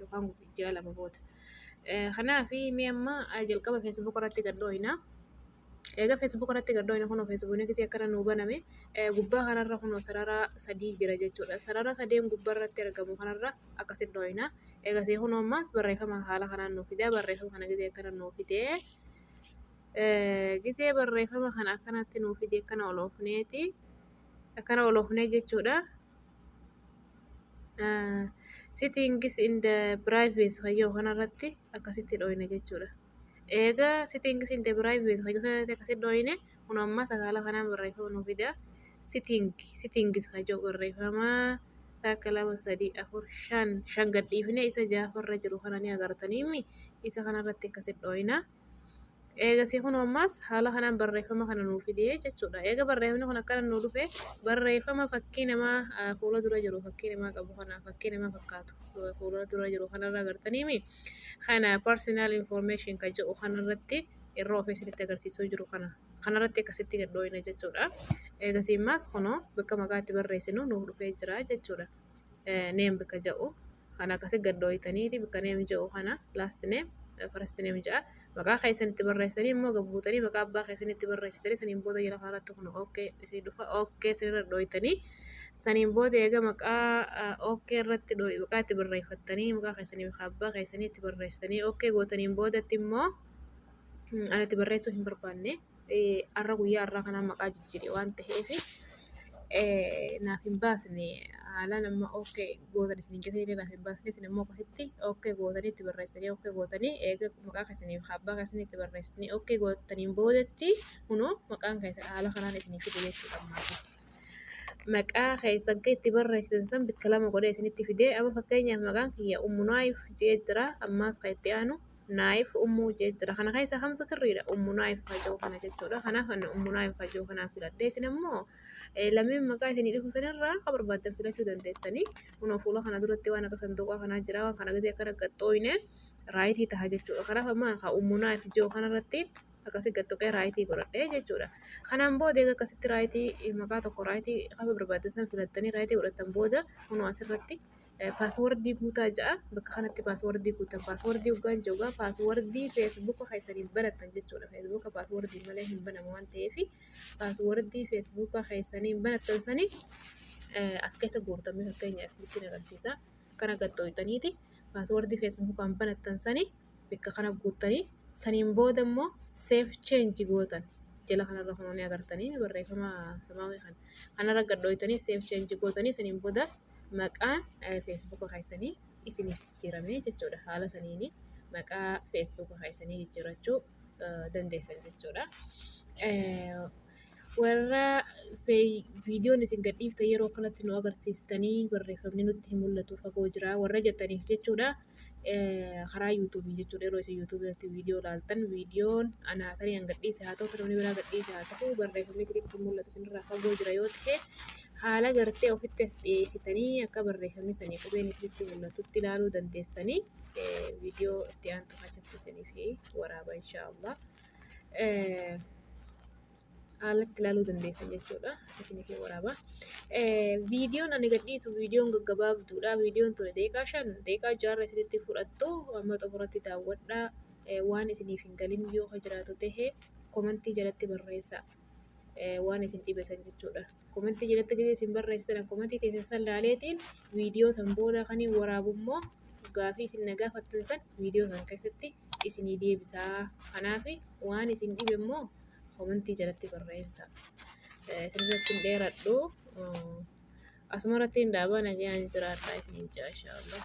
yookaan ji'a lama booda. Kanaaf mee amma jalqaba feesbuuka irratti gad dhooyna. Egaa feesbuuka irratti gad dhooyna kunoo feesbuukni kiyya akkana nuu baname gubbaa kanarra kunoo sarara sadii jira jechuudha. Sarara sadeen gubbaa irratti argamu kanarra akkasitti dhooyna. Egaa see kunoo ammaas barreeffama haala kanaan nuu fida barreeffama kana gisee akkana nuu fidee. Gisee barreeffama kana akkanatti nuu fidee akkana ol oofneeti. Akkana ol oofnee jechuudha. settings in the privacy kan jedhu kanarratti akkasitti dhooyna jechuudha. Eegaa settings in the privacy kan jedhu kanarratti akkasitti dhooyne kun amma sakaala kanaan barreeffama nu fida. Settings settings kan jedhu barreeffama takka lama sadii afur shan shan gadhiifnee isa ja'affaarra jiru kana ni agartaniimi isa kanarratti akkasitti dhooyna. Eegasii kun ammaas haala kanaan barreeffama kana nuu fidee jechuudha. Eega barreeffamni kun akkana nuu dhufe barreeffama fakkii namaa fuula dura jiru fakkii namaa qabu kana fakkii namaa fakkaatu fuula dura jiru kanarraa agartaniimi kana personal information kan jedhu kanarratti irra ofee isinitti agarsiisuu jiru kana kanarratti akkasitti gadhooyina jechuudha. Eegasii ammaas kunoo bakka maqaa itti barreessinu nuuf dhufee jira jechuudha. name bika ja'u kana akkasi gaddooytaniiti bika name ja'u kana last name first name ja'a maqaa keessan itti barreessanii immoo gabbuutanii maqaa abbaa keessan itti barreessitanii saniin booda jala kanarratti kun ok isin dhufa ok isinirra dhooytanii saniin booda eega maqaa ok irratti maqaa itti barreeffattanii maqaa keessanii bika abbaa keessanii itti barreessitanii ok gootaniin boodatti immoo ani itti barreessuu hin barbaanne. har'a guyyaa har'aa kanaan maqaa jijjiire waan ta'eef naaf hin baasne haalaan amma ok gootan isiniin jetee illee naaf hin baasne isin immoo akkasitti ok gootanii itti barreessitanii ok gootanii eega maqaa keessanii fi abbaa keessanii itti barreessitanii ok gootaniin boodatti kunoo maqaan keessan haala kanaan isiniif fide jechuudha ammaas. Maqaa keessan kan itti barreessitan san bakka lama godhee isinitti fidee amma fakkeenyaaf maqaan kiyya ummunaayiif jee jira ammaas kan itti aanu naayif ummuu jechuudha. Kana keessaa kamtu sirriidha? Ummu naayif hajoo kana jechuudha. Kanaaf ani ummu naayif hajoo kana filadhe. Isin immoo lameen maqaa isinii dhufu sanirraa akka barbaaddan filachuu dandeessanii. Kunoo fuula kana duratti waan akka sanduuqaa kanaa jira. Waan kana gisee akkana gaxxooyne raayitii taha jechuudha. Kanaaf amma akka ummu naayif hajoo kanarratti akkasii gaxxoqee raayitii godhadhe jechuudha. Kanaan booda egaa akkasitti raayitii maqaa tokko raayitii qafa barbaaddan san filattanii raayitii godhattan booda kunoo asirratti Paaswordii guutaa jedha. Bakka kanatti paaswordii guuttan. Paaswordii hoggaan jedhu egaa paaswordii feesbuuka keessaniif banattan jechuudha. Feesbuuka paaswordii malee hin banamu waan ta'eef paaswordii feesbuuka keessaniin banattan sani as keessa guurtan mee fakkeenyaaf ittiin agarsiisa. Kana gad xooyxaniiti paaswordii feesbuukaan banattan sani bakka kana guuttanii saniin booda immoo seef cheenji gootan. Jala kanarra kan inni agartanii barreeffama samaawii kana. Kanarra gad xooyxanii seef cheenji gootanii saniin booda maqaan Facebook keessanii isiniif jijjiiramee jechuudha. Haala saniin maqaa Facebook keessanii jijjiirachuu dandeessan jechuudha. Warra viidiyoon isin gadhiifte yeroo kanatti nu agarsiistanii barreeffamni nutti hin mul'atu fagoo jira warra jettaniif jechuudha. karaa yuutuubii jechuudha yeroo isin yuutuubii irratti viidiyoo ilaaltan viidiyoon anaa tarii an gadhiise haa ta'u namni biraa gadhiise haa ta'u barreeffamni isinitti mul'atu isinirraa fagoo jira yoo ta'e haala gartee ofitti as dhiyeessitanii akka barreeffamni sanii qubeen isinitti mul'atutti ilaaluu dandeessanii viidiyoo itti aantu keessatti isiniif waraaba inshaallah. haalatti ilaaluu dandeessan jechuudha. Isiniif hin waraaba. Viidiyoon ani gadhiisu viidiyoon gaggabaabduudha. Viidiyoon ture deeqaa shan deeqaa jaarra isinitti fudhattu amma xumuratti daawwadhaa. Waan isiniif hin galin yoo ka jiraatu ta'e komantii jalatti barreessa. Waan isin dhibesan jechuudha. Komantii jalatti gadi isin barreessitan komantii keessan san laaleetiin viidiyoo san booda kan hin waraabu immoo gaafii isin na gaafattan san viidiyoo san keessatti isinii deebisaa. Kanaaf waan isin dhibe immoo komantii jalatti barreessa. Isinirratti hin dheeradhu. Asumarratti hin dhaabaa nagayaan jiraadhaa isiniin jaa inshaallah.